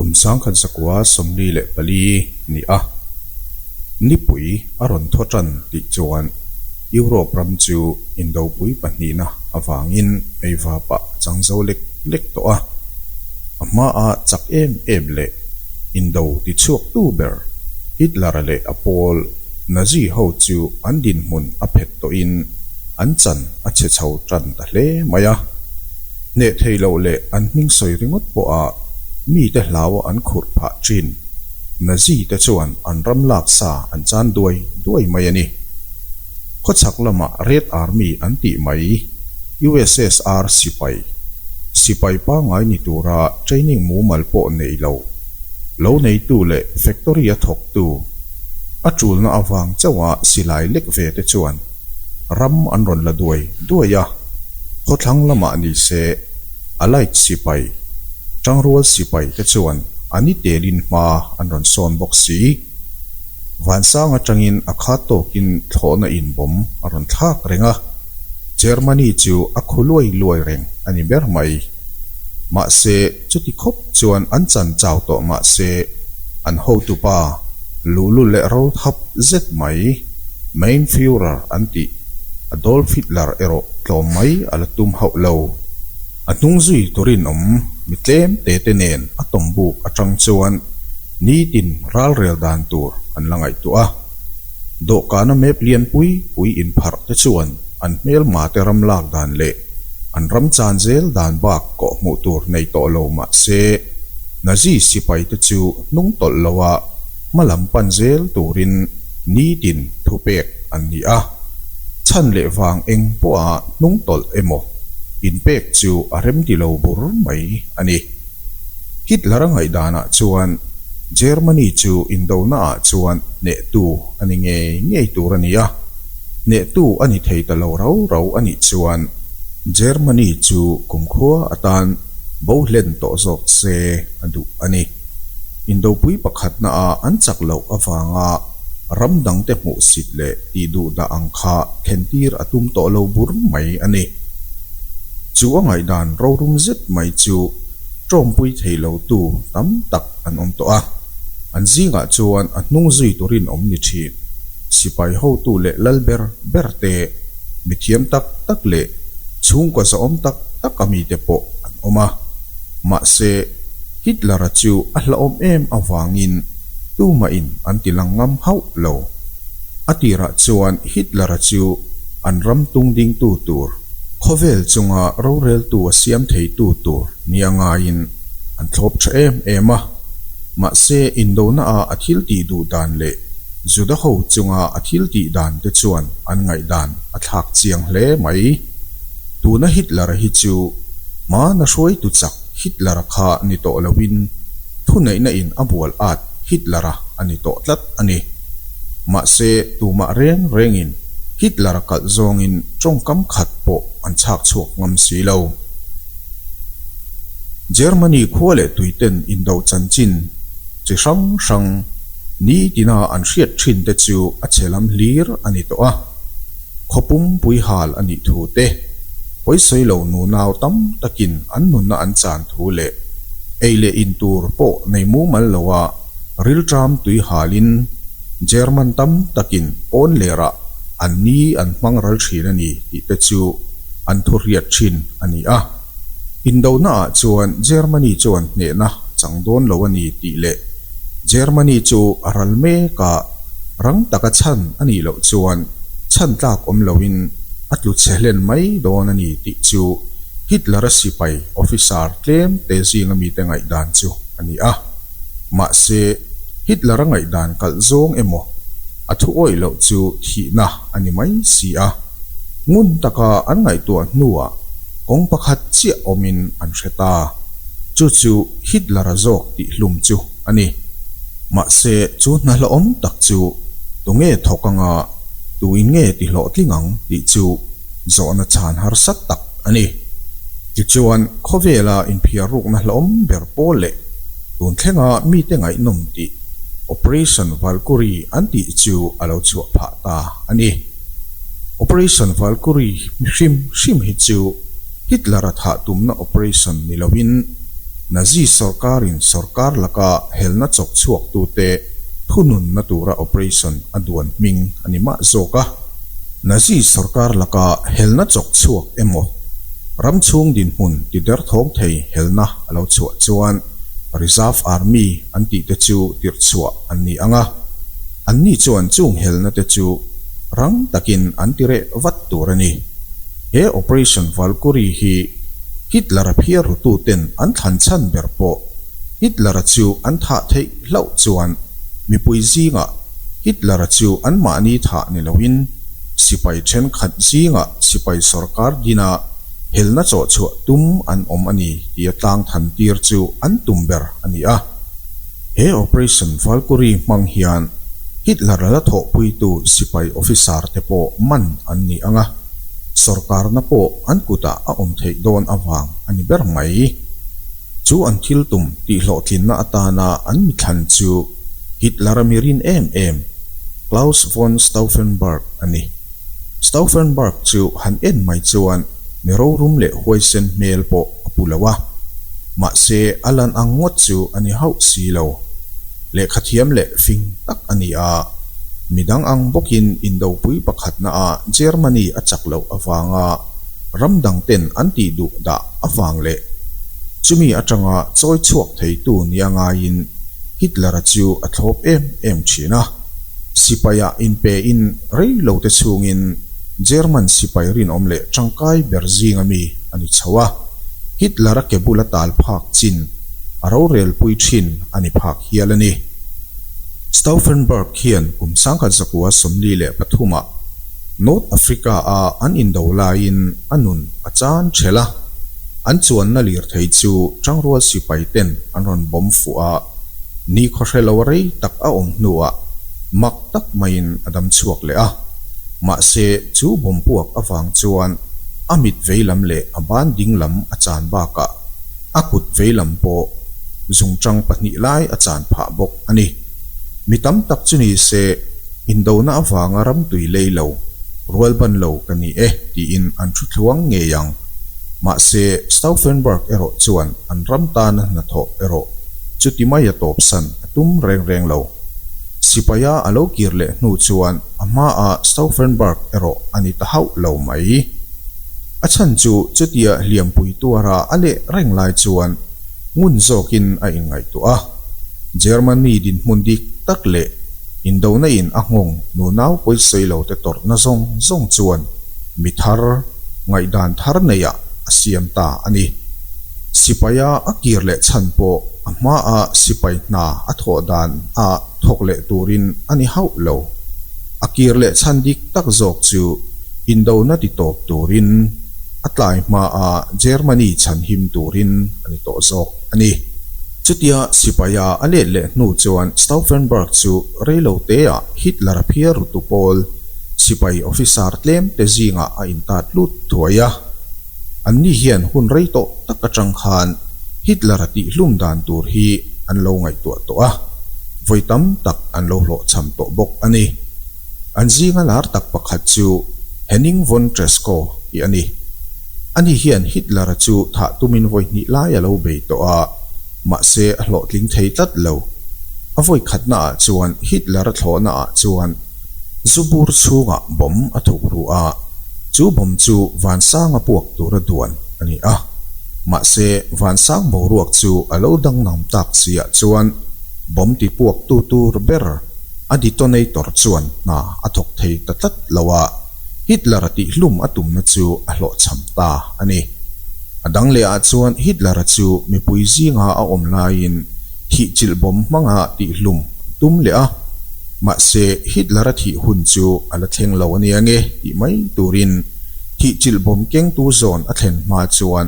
Kum sangkhat zakua sawmli leh pali nih a nipui a rawn thaw tan tih chuan. Europe ram chu indopui pahnihna avangin eiva pah chang zo lek lek tawh a, a hmaa chak em em leh indo ti chhuaktu ber Hitler-a leh a pawl Nazi ho chu an dinhmun a phet tawhin an chan a chhe chho tan ta hle mai a, hneh thei loh leh an hming sawi ringawt pawha mite hlau an khurh phah ṭhin. Nazi te chuan an ram lak sa an chan duai duai mai a ni. Khawchhak lama Red Army an tih mai, USSR sipai, sipai pangai ni tura training mumal pawh nei lo, lo neitu leh factory a thawktu, a tulna avang chauha silai lek ve te chuan, Ram an rawn la duai duai a, khawthlang lamah ni se Allied sipai, Tangrual sipai, te chuan a ni telin hma an rawn sawn bawk si. Vansang atangin a khat tawkin thlawhna inbawm a rawn thlak reng a, Germany chu a khu luai luai reng a ni ber mai. Mahse, Chuti khawp chuan an chan chau tawh mah se, an hotupa Lulu leh Rothap zet mai Mein Führer an tih Adolf Hitler erawh tlawm mai a la tum hauh lo. A hnung zui tur in awm mi tlem te te nen a tawm buk atang chuan nitin ralrel dan tur an la ngaihtuah a. Dawhkana map lian pui pui inpharh te chuan an hmelma te ram lak dan leh an ram chan zel dan bak kawh hmuh tur nei tawh lo mahse, Nazi sipai te chu hnung tawlh lo a hma lam pan zel turin nitin thu pek an ni a. Chhan leh vang eng pawha hnung tawlh emaw inpek chu a remti lo bur mai a ni. Hitler a ngaihdanah chuan Germany chu indonaah chuan hnehtu a ni ngei ngei tur a ni a, hnehtu a ni thei ta lo rau rau a nih chuan Germany chu kumkhua atan bohlen tawh zawk se a duh a ni. Indopui pakhatnaah an chak loh avanga, ram dangte hmuh sit leh tih duh dah ang kha thlentir a tum tawh lo bur mai a ni. Chu a ngaihdan rorum zet mai chu tawmpui thei lotu tam tak an awm tawh a, an zingah chuan a hnung zui turin awm ni thin. Sipai hotu leh lal ber ber te, mithiam tak tak leh chhungkaw zahawm tak tak a mi te pawh an awm a, mahse Hitler-a chu a hlahawm em avangin, tumahin an ti lang ngam hauh lo. A tirah chuan Hitler-a chu an ram tung dingtu tur, khawvel chunga roreltu a siam theitu tur nia ngaiin an thlawp tha em em a. Mahse, Indonaah a thil tih duh dan leh Juda ho chunga a thil tih dan te chuan an ngaihdan a thlak chiang hle mai. Tuna Hitler hi chu hmana hruaitu chak Hitler kha ni tawh lovin, thuneihna in a bual at Hitler-a a ni tawh tlat a ni. Mahse, tumah reng rengin Hitler kalh zawngin tawngkam khat pawh an chhak chhuak ngam si lo. Germany khua leh tuiten indoh chanchin chi hrang hrang ni tina an hriat thinte chu a che lam hlir a ni tawh a. Khaw pum puihal a nih thu te, pawisawi lo nunau tam takin an nunna an chan thu leh ei leh in tur pawh nei mumal lo a rilṭam tuihalin German tam takin pawn lerah an ni an hmang ral ṭhin a ni tih te chu an thu hriat ṭhin a ni a. Indohna ah chuan Germany chuan hnehna a chang dawn lo a ni tih leh Germany chu a ral mek a rang taka chhan a nih loh chuan chhan tlak awm loin a tlu chhe hlen mai dawn a ni tih chu Hitler-a sipai officer tlemte zinga mite ngaihdan chu a ni a. Mahse, Hitler-a ngaihdan kalh zawng emaw? A thu awih loh chu thihna a ni mai si a, ngun taka an ngaihtuah hnuah kawng pakhat chiah awmin an hre ta, chu chu Hitler-a zawk tih hlum chu a ni. Mahse, chu hnahlawm tak chu tu nge thawk anga, tuin nge ti hlawhtling ang tih chu zawhna chhan harsat tak a ni. Tichuan, khawvela inphiar ruk hnahlawm ber pawl leh Tun thlenga mite ngaihnawm tih Operation Valkyrie an tih chu a lo chhuah phah ta a ni. Operation Valkyrie hrim hrim hi chu Hitler-a thah tumna operation ni loin Nazi sorkarin sorkar laka helna chawk chhuaktute thununna tura operation a duan hming a ni mah zawk a. Nazi sorkar laka helna chawk chhuak emaw ram chhung dinhmun tider thawng thei helna a lo chhuah chuan Reserve Army an tih te chu tirhchhuah an ni ang a, an ni chuan chung helna te chu rang takin an ti reh vat tur a ni. He Operation Valkyrie hi Hitler a phiarrutu ten an thlan chhan ber pawh Hitler a chu an thah theih hlauh chuan mipui zingah Hitler chu anmahni thah ni loin sipai thenkhat zingah sipai sorkar dina helna chawhchhuah tum an awm a ni tia tlang than tir chu an tum ber a ni a. He Operation Valkyrie hmang hian Hitler la thawhpuitu sipai officer te pawh man an ni ang a, sorkarna pawh an kutah a awm theih dawn avang a ni ber mai. Chu an thil tum tihhlawhtlinna atana an mithlan chu Hitler a mirin em em Claus von Stauffenberg a ni. Stauffenberg chu han en mai chuan mi rorum leh huaisen hmel pawh a pu lo a, mahse a lan ang ngawt chu a ni hauh si lo. Lehkha thiam leh fing tak a ni a, midang ang bawkin indopui pakhatnaah Germany a chak loh avanga, ram dangten an tih duh dah avang leh chumi atanga chawi chhuak theitu ni a ngaiin Hitler-a chu a thlawp em em thin a. Sipaia in pe in rei lo te chungin German sipai rinawm leh tangkai ber zinga mi a ni chho a. Hitler-a ke bula tal phak chin a rorel pui thin a ni phak hial a ni. Stauffenberg hian kum sangkhat zakua sawmli leh pathumah North Africa a an indo laiin a nun a chan ṭhelh a, an chuanna lirthei chu ṭangrual sipai ten an rawn bawm fuh a, ni khawhre lo rei tak a awm hnuah mak tak maiin a dam chhuak leh a, mahse chu bawmpuak avang chuan a mit veilam leh a ban dinglam a chan bakah a kut veilam pawh zungṭang pahnih lai a chan phah bawk a ni. Mi tam tak chu ni se, indona avanga ram tui lei lo, rual ban lo ka ni e tiin an thu thluang ngei ang. Mahse, Stauffenberg erawh chuan an ram tana hnathawh erawh chuti mai a tawpsan a tum reng reng lo. Sipaia a lo kir leh hnu chuan a hmaa Stauffenberg erawh a ni ta hauh lo mai. A chhan chu chutia hliampui tuara a leh reng lai chuan, Ngun zawkin a inngaihtuah a, Germany dinhmun dik tak leh indonaiin a nghawng nunau pawisawi lote tawrhna zawng zawng chuan mi thar ngaihdan thar neiah a siam ta a ni. Sipaia a kir leh chhan pawh a hmaa sipai hna a thawh dan a thawk leh turin a ni hauh lo. A kir leh chhan dik tak zawk chu Indona ti tawp turin. a tlai hmaa Germany chhan him turin a ni tawh zawk a ni. Chutia sipaia a let leh hnu chuan Stauffenberg chu reiloteah Hitler a phiar rutu pawl sipai officer tlemte zingah a intat lut thuai a. Anni hian hun rei tawh tak atang khan Hitler a tihhlum dan tur hi an lo ngaihtuah tawh a, vawi tam tak an lo hlawhchham tawh bawk a ni. An zinga lar tak pakhat chu Henning von Tresckow tih a ni. Ani hian Hitler-a chu thah tumin vawihnih lai a lo bei tawh a, mahse a hlawhtling thei tlat lo. A vawikhatna ah chuan Hitler-a thlawhna ah chuan zu bur chhungah bomb a thuk ruh a, chu bomb chu vansang a puak tura duan a ni a. Mahse vansang boruak chu a lo dang nam tak si ah chuan bomb ti puak tu tur ber, A detonator chuan hna a thawk thei ta tlat lo a, Hitler-a tih hlum a tumna chu a hlawhchham ta a ni. A dang lehah chuan Hitler-a chu mipui zinga a awm laiin thih chilh bawm hmanga tih hlum a tum leh a. Mahse, Hitler-a thih hun chu a la thleng lo a nia nge tih mai turin thih chilh bawm kengtu zawn a thlen hma chuan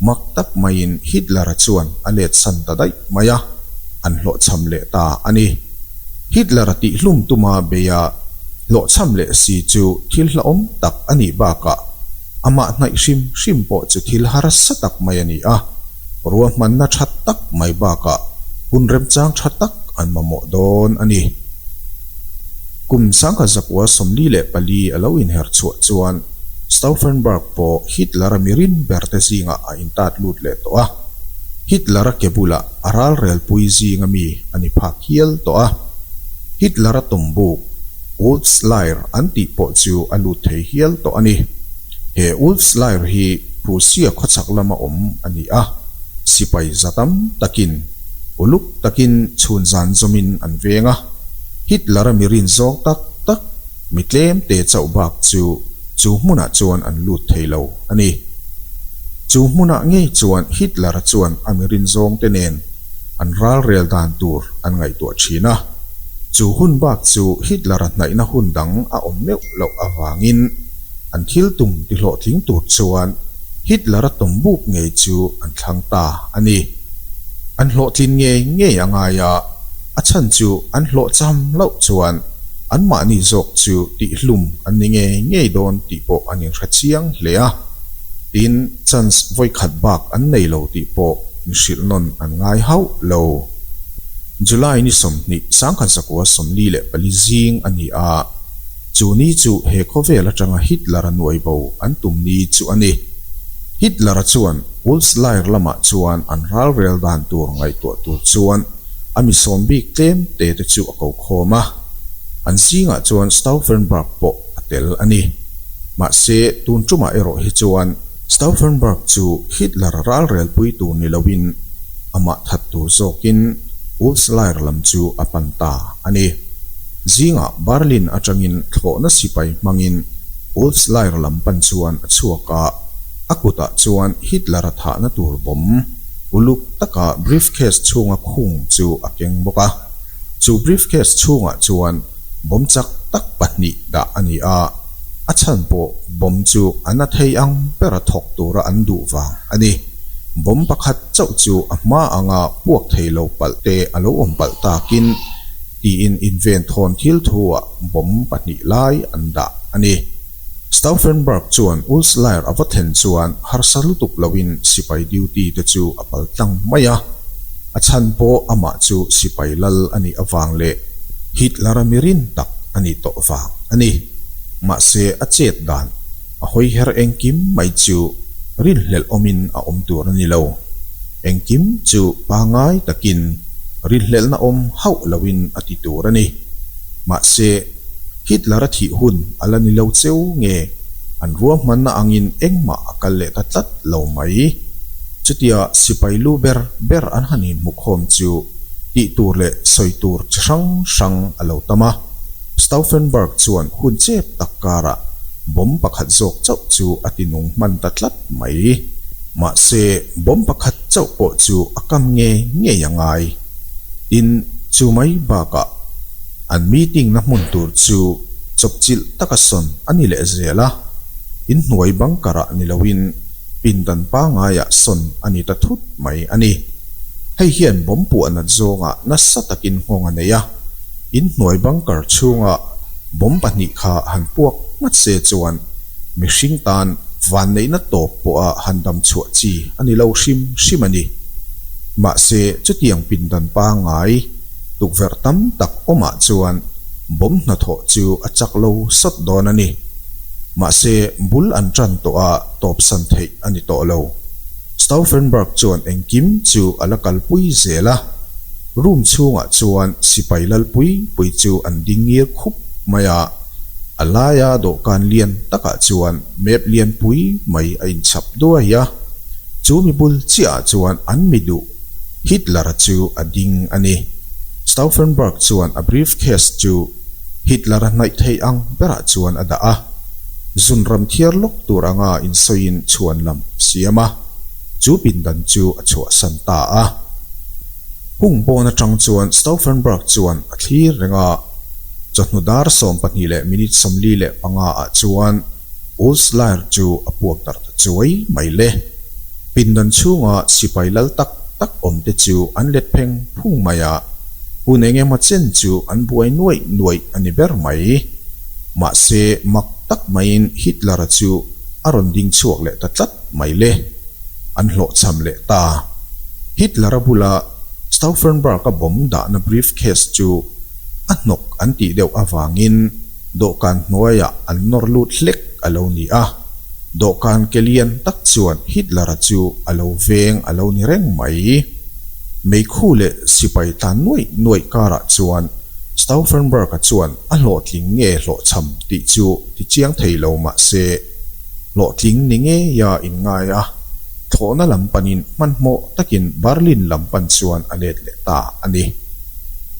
mak tak maiin Hitler-a chuan a letsan ta daih mai a, an hlawhchham leh ta a ni. Hitler-a tih hlum tuma beia hlawhchham leh si chu thil hlauhawm tak a nih bakah amah hnaih hrim hrim pawh chu thil harasa tak mai a ni a, ruahmanna tha tak mai bakah hun remchang tha tak an mamawh dawn a ni. Kum sangha zakua sawmli leh pali a lo inher chhuah chuan, Stauffenberg pawh Hitler-a mi rin berte zingah a intat lut leh tawh a, Hitler-a ke bulah a ralrelpui zinga mi a ni phak hial tawh a. Hitler-a tumbuk Ulfsleir an tih pawh chu a lut thei hial tawh a ni. He Ulfsleir hi Prussia khawchhak lama awm a ni a, sipai za tam takin uluk takin chhunzan zawmin an veng a, Hitler-a mi rin zawng tak tak, mi tlemte chauh bak chu chu hmunah chuan an lut thei lo a ni. Chu hmunah ngei chuan Hitler-a chuan a mi rinzawngte nen an ralrel dan tur an ngaihtuah thin a. Chu hun bak chu Hitler-a hnaihna hun dang a awm meuh loh avangin an thil tum ti hlawhtling tur chuan Hitler-a tawm buk ngei chu an thlang ta a ni. An hlawhtlin ngei ngei a ngai a. a chhan chu an hlawh cham loh chuan anmahni zawk chu tihhlum an ni ngei ngei dawn tih pawh an inhre chiang hle a, tin chance vawikhat bak an nei lo tih pawh mihrilh nawn an ngai hauh lo. July ni sawmhnih sangkhansakua sawmli leh pali zing a ni a. Chu ni chu he khawvel atanga Hitler-a nuai bo an tum ni chu a ni. Hitler-a chuan Wolfs Lair lamah chuan an ralrel dan tur ngaihtuah tur chuan a misawm bik tlem te te chu a ko khawm a. An zingah chuan Stauffenberg pawh a tel a ni. Mahse, tun ṭumah erawh hi chuan, Stauffenberg chu Hitler ralrel pui tur ni loin amah that tur zawkin Wolfs Lair lam chu a pan ta a ni. Zingah Berlin atangin thlawhna sipai hmangin Wolfs Lair lam pan chuan a chhuak a, a kutah chuan Hitler-a thahna tur bawm uluk taka briefcase chhunga khung chu a keng bawk a. Chu briefcase chhungah chuan. bawm chak tak pahnih dah a ni a, a chhan pawh bawm chu an a thei ang bera thawk tura an duh vang a ni. Bawm pakhat chauh chu a hma anga puak thei lo palh te a lo awm palh takin tiin inven thawn thil thuah bawm pahnih lai an dah a ni. Stauffenberg chuan Ulslayer a va thlen chuan harsa lutuk loin sipai duty te chu a pal tlang mai a, a chhan pawh amah chu sipai lal a nih avang leh Hitler-a mirin tak a ni tawh vang a ni. Mahse, a chet dan a hawi her engkim mai chu rilhlelh awmin a awm tur a ni lo. Engkim chu pangai takin rinhlelhna awm hauh loin a ti tur a ni. Mahse, Hitler-a thih hun a la ni lo cheu nge, an ruahmanna angin engmah a kal leh ta tlat lo mai. Chutia sipai lu ber ber an han inhmukhawm chu tih tur leh sawi tur chi hrang hrang a lo tam a. Stauffenberg chuan hun chep tak karah bomb pakhat zawk chauh chu a ti nung hman ta tlat. Mai. Mahse, bawm pakhat chauh pawh chu a kam nge ngei a ngai. Tin, chu mai bakah, an meeting-na hmun tur chu chawpchilh taka sawn a ni leh zel a. Inhnuai bunker-ah ni loin pindan pangaiah sawn a ni ta thut mai a ni. Hei hian bawm puahna zawngah nasa takin nghawng a nei a. In hnuai bunker chhunga bomb pahnih kha han puak nghat se chuan mihring tan vanneihna tawp pawha han damchhuah chi a ni lo hrim hrim a ni. Mahse, chutiang pindan pangngai tukverh tam tak awmah chuan bomb hnathawh chu a chak lo sat dawn a ni. Mahse, bul an tan tawh a tawpsan theih a ni tawh lo. Stauffenberg chuan engkim chu a la kalpui zel a. Room chhungah chuan sipai lal pui pui chu an ding ngir khup mai a, a laia dawhkan lian takah chuan map lian pui mai a in chhap duai a, chu mi bul chiahah chuan an mi duh Hitler-a chu a ding a ni. Stauffenberg chuan a briefcase chu Hitler-a hnaih theih ang berah chuan a dah a, zun ram thiar lawk tur anga insawiin chhuan lam a siam a, chu pindan chu a chhuahsan ta a. Hung pawn atang chuan Stauffenberg chuan a thlir reng a, chawhnu dar sawm pahnih leh minute sawmli leh panga ah chuan Ulslair chu a puak darh ta chuai mai le. Pindan chhunga sipai lal tak tak awm te chu an let pheng phung mai a, hun eng emaw chen chu an buai nuaih nuaih a ni ber mai. Mahse mak tak maiin Hitler-a chu a rawn ding chhuak leh ta tlat mai le, an hlawhchham leh ta. Hitler a bula Stauffenberg-a bawm dahna briefcase chu a hnawk an tih deuh avangin dawhkan hnuaiah an nawr lut hlek a lo ni a, dawhkan ke lian tak chuan Hitler-a chu a lo veng a lo ni reng mai. Meikhu leh sipai tlan nuaih nuaih karah chuan Stauffenberg-a chuan a hlawhtling nge hlawhchham tih chu Ti chiang thei lo mah se, hlawhtling ni ngeia in ngai a, thlawhna lam panin hmanhmawh takin Berlin lam pan chuan a let leh ta a ni.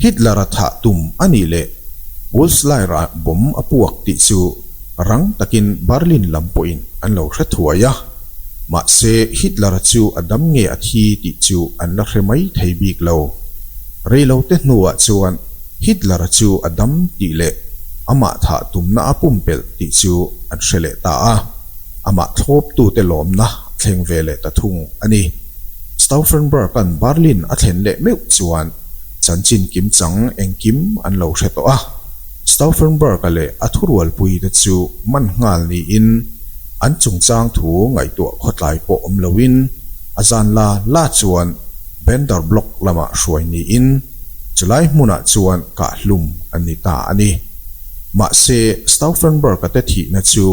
Hitler-a thah tum a nih leh Pulsleirah bom a puak tih chu rang takin Berlin lam pawhin an lo hre thuai a, mahse Hitler-a chu a dam nge a thi tih chu an la hre mai thei bik lo. Reilote hnuah chuan Hitler chu a dam tih leh amah thah tumna a pumpelh tih chu an hre leh ta a, amah thlawptute lawmna a thleng ve leh ta thung a ni. Stauffenberg-a'n Berlin a thlen leh meuh chuan chanchin kim chang engkim an lo hre tawh a. Stauffenberg-a leh a thurualpuite chu man nghal niin an chungchang thu ngaihtuah khawtlai pawh awm loin a zanla la chuan Bender Block lamah hruai niin, Chulai hmunah chuan kah hlum a ni ta a ni. Mahse, Stauffenberg-a te thihna chu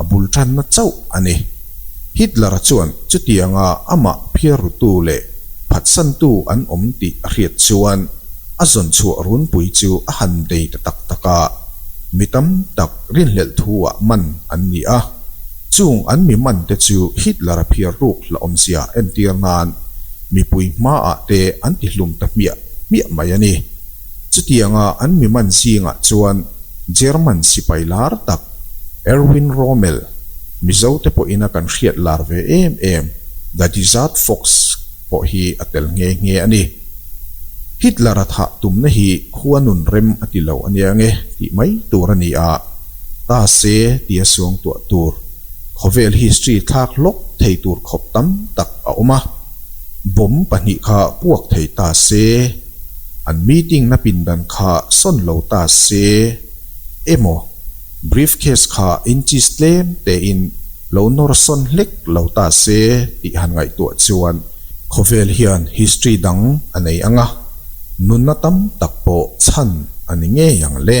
a bul tanna chauh a ni. Hitler-a chuan chutianga amah phiarrutu leh phatsantu an awm tih a hriat chuan a zawnchhuah runpui chu a han dei ta tak tak a, mi tam tak rinhlelh thu-ah man an ni a. Chung an mi man te chu Hitler a phiar ruk hla awmzia entir nan mipui hma ah te an ti hlum ta hmiah hmiah mai a ni. Chutiang a an mi man zing ah chuan German sipai lar tak Erwin Rommel Mizo te pawh in a kan hriat lar ve em em The Desert Fox pawh hi a tel nghe nghe a ni. Hitler a thah tum na hi khuanun rem a ti lo a nia nge tih mai tur a ni a. Mahse, tih a suang tuah tur khawvel history thlak lawk thei tur khawp tam tak a awm a, bawm pahnih kha puak thei ta se, an meeting na pindan kha sawn lo ta se emaw briefcase kha inches tlem tein lo nawr sawn hlek lo ta se tih han ngaihtuah chuan khawvel hian history dang a nei ang a, nunna tam tak pawh chhan a ni ngei ang le.